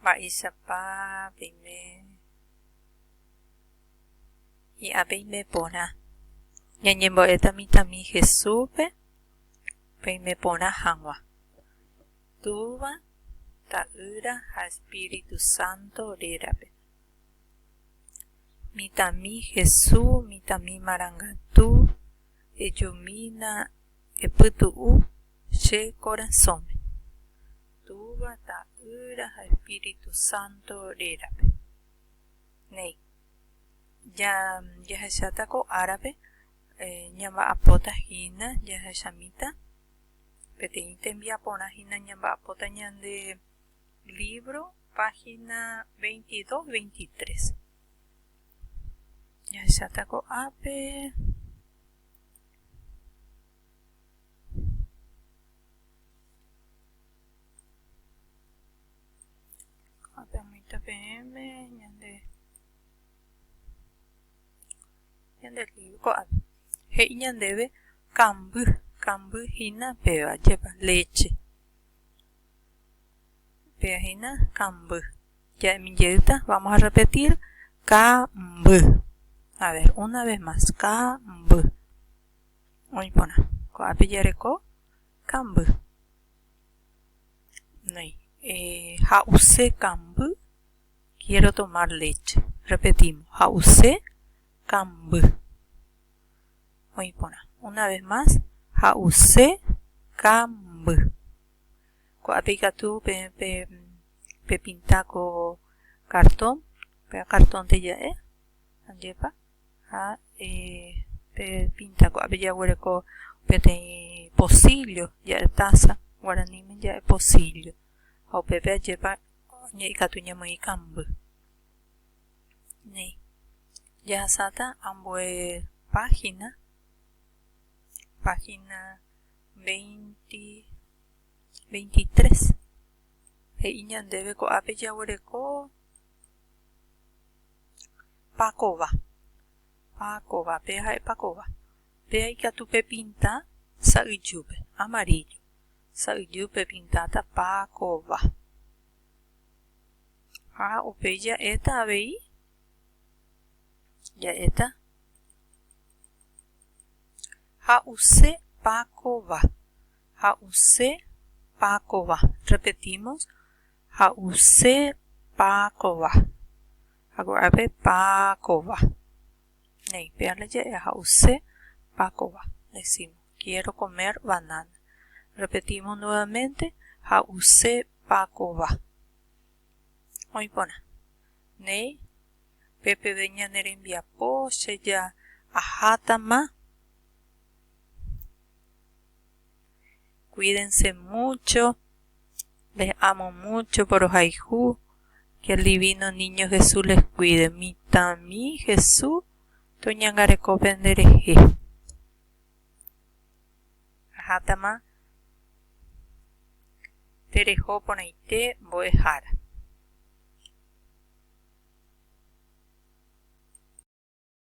Mba'éichapa peime hi'a peime porã? Ñañembo'éta mitãmi Jesúspe peime porã hag̃ua. Túva, Ta'ýra ha espíritu sánto rérape. Mitãmi Jesús, mitãmi marangatu, ejumína, epytu'u. Che korasõme. Túva, Ta'ýra ha Espíritu Santo rérape. Néi. Ja, jahecháta ko árape, ñamba'apóta hína, jahechamíta peteĩ tembiaporã hína ñamba'apóta ñande lívro, página 22, 23. Jahecháta ko'ápe. Apyamíta peẽme ñande ñande lío ko'ápe. He'i ñandéve kamby, kamby hína péva, jepa, léche. Péva hína kamby. Ja'emi jeýta, vamos a repetir, kamby. A ver, una vez más, kamby. Oĩ porã. Ko'ápe jareko kamby. Noĩ. Ha'use kamby. Quiero tomar leche. Repetimos. Ha'use kamby. Oĩ porã. Una vez más. Ha'use kamby. Ko'ápe ikatu pe, pe, pepinta ko cartón, pe cartón-nte ja'e, ojepa. ha pe pinta kua'ape jaguereko peteĩ pocillo ja'e taza guaraníme ja'e pocillo ha upépe ajépa ikatu ñamoĩ ikamby ni jahasáta ambue página página veinti veinti tres he'i ñandéve ko'ápe jaguereko Pakova. Pakova. Péa ha'e pakova. Péa ikatu pepinta sa'yjúpe. Amaríllo. Sa'yjúpe pepintáta pakova. Ha upéi ja'éta avei. Ja'éta. Ha'use pakova. Ha'use pakova. Repetimos. Ha'use pa kova. Aguerave pa kova. Néi, péa naje'e ha'use pa kova. Decimos, quiero comer banana. Repetimos nuevamente, ha'use pa kova. Oĩ porã. Néi, pe peve ñane rembiapo, che ja ahátama. Cuídense mucho, les amo mucho porohayhu, que el divino niño Jesús les cuide. Mitãmi Jesús toñangareko pende rehe. Ahátama tereho porãite mbo'ehára.